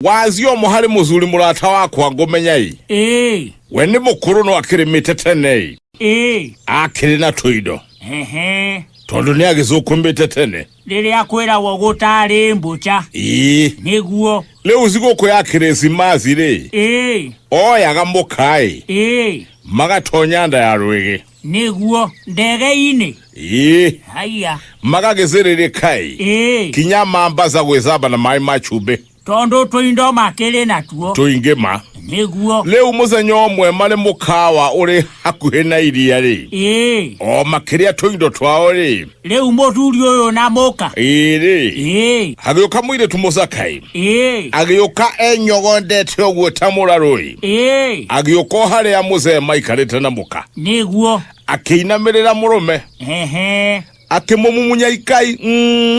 wathi o mũharĩ mũthuri mũrata wakwa ngũmenya-ĩ ĩĩ we nĩ mũkũrũ no akĩrĩmĩte tene-ĩ ĩĩ akĩrĩ na tũindo hehe tondũ nĩ agĩcũkũmĩte tene rĩrĩa kwĩragwo gũtarĩ mbũca ĩĩ nĩguo rĩu thigũkũ ya kĩrĩsimathi-rĩ ĩĩ oyaga mũkaĩ ĩĩ magatonya nda ya rwĩgĩ nĩguo ndege-inĩ ĩĩ haiya magagĩcĩrĩrĩkai ĩĩ kinya mambaca gwĩcamba na maĩ ma cumbĩ tondũ tũindo makĩrĩ natuo tũingĩ ma nĩguo rĩu mũthenya ũmwe marĩ mũkawa ũrĩ hakuhĩ na iria-rĩ ĩĩ o makĩrĩa tũindo twao-rĩ rĩu mũthuri ũyũ na mũka ĩrĩ ĩĩ agĩũka mũirĩtu mũcakai ĩĩ agĩũka enyogondete ũguo ta mũrarũĩ ĩĩ agĩũka o harĩa mũcee maikarĩte na mũka nĩguo akĩinamĩrĩra mũrũme ehe akĩmũmumunya ikai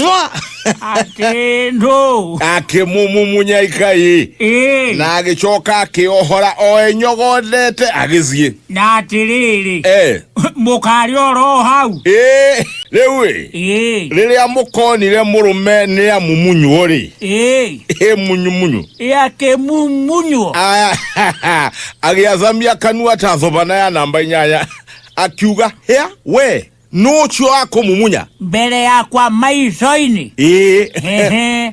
mwa atĩ ndũ akĩmũmumunya ikai ĩĩ na agĩcoka akĩohora o enyogondete agĩthiĩ na atĩrĩrĩ e mũkarĩ oro hau ĩĩ rĩu ĩ ĩĩ rĩrĩa mũkonire mũrũme nĩ amumunywo rĩ ĩĩ ĩ munyumunyu yakĩmumunywo Ah, agĩathamia kanua ta thobana ya namba inyanya akiuga hĩa we nũ ũcio akũmumunya mbere yakwa maico-inĩ ĩĩ Ehe.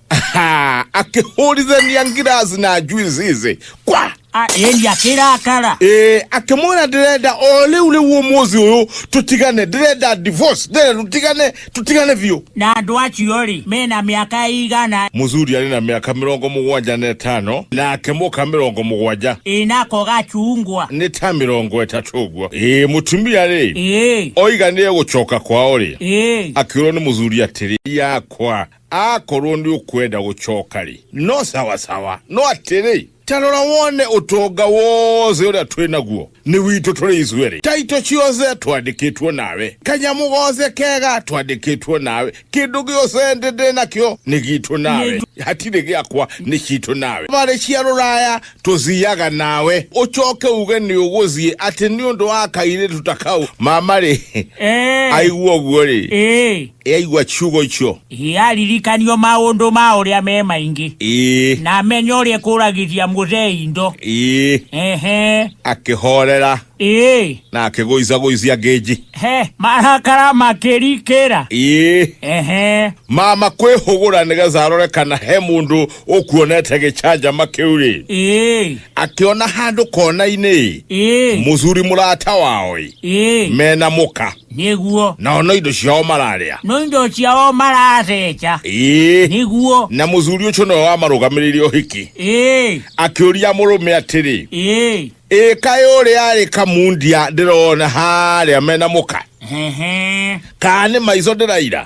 Ha, akĩhũrithania ngiraci na njuici ici kwa A, ĩria kĩrakara Eh, akĩmwĩra ndĩrenda o rĩu rĩu ũmũthĩ ũyũ tũtigane ndĩrenda divorce ndĩrenda tũtigane tũtigane biũ na andũ acio rĩ mena mĩaka igana mũthuri arĩ na mĩaka mĩrongo mũgwanja na ĩtano nake mũka mĩrongo mũgwanja ĩnako gacungwa nĩ ta mĩrongo ĩtatũ ũguo ĩĩ mũtumia rĩ ĩĩ oiga nĩ egũcoka kwao rĩ ĩĩ akĩũrwo nĩ mũthuri atĩrĩ yakwa akorwo nĩ ũkwenda gũcoka rĩ no sawasawa no atĩrĩ tarora wone ũtonga wothe ũrĩa twĩ naguo nĩ witũ tũrĩ ithuĩ rĩ taito ciothe twandĩkĩtwo nawe kanyamũ gothe kega twandĩkĩtwo nawe kĩndũ gĩothe ndĩ ndĩ nakĩo nĩ gitũ nawe hatirĩ gĩakwa nĩ citũ nawe barĩ cia rũraya tũthiaga nawe ũcoke uge nĩ ũgũthiĩ atĩ nĩ ũndũ wa kairĩtu ta kau mama rĩ Eh. aigua ũguo rĩ Eh. Eaigua kiugo icio. Ĩ aririkanio maũndũ ma ũrĩa me maingĩ. Ĩ. Na amenye ũrĩa ĩkũragithia mũthee indo. Ĩ. Ehe. Akĩhoorera. Ĩ. Na akĩgũicagũicia ngĩnji. He. Marakara makĩrikĩra. Ĩ. Ehe. Mama kwĩhũgũra nĩgetha arore kana he mũndũ ũkuonete gĩcanjama kĩu-rĩ, Ĩ. akĩona handũ kona-inĩ-ĩ, Ĩ. mũthuri mũrata wao-ĩ, Ĩ. mena mũka. nĩguo nao no indo ciao mararĩa no indo ciao maratheca ĩĩ nĩguo na mũthuri ũcio nĩwe wamarũgamĩrĩire ũhiki ĩĩ akĩũria mũrũme atĩrĩ ĩĩ ĩĩ kaĩ ũrĩa arĩ kamundia ndĩrona harĩa mena mũka ehe kana nĩ maico ndĩraira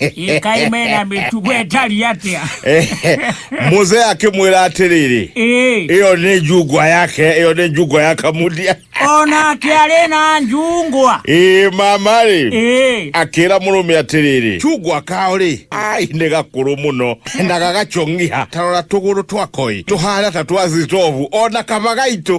ĩkai mena mĩtugo ĩtariĩ atĩa muze akĩmwĩra atĩrĩrĩ Ĩĩ, ĩyo nĩ njungwa yake ĩyo nĩ njungwa ya kamudia onake arĩ na njungwa ĩĩ mama rĩ Ĩĩ, akĩra mũrũme atĩrĩrĩ chungwa kao rĩ ai nĩ gakũrũ mũno na gagacong'iha tarora tũgũrũ twakoi tũhana ta twa zitovu ona kaba gaitũ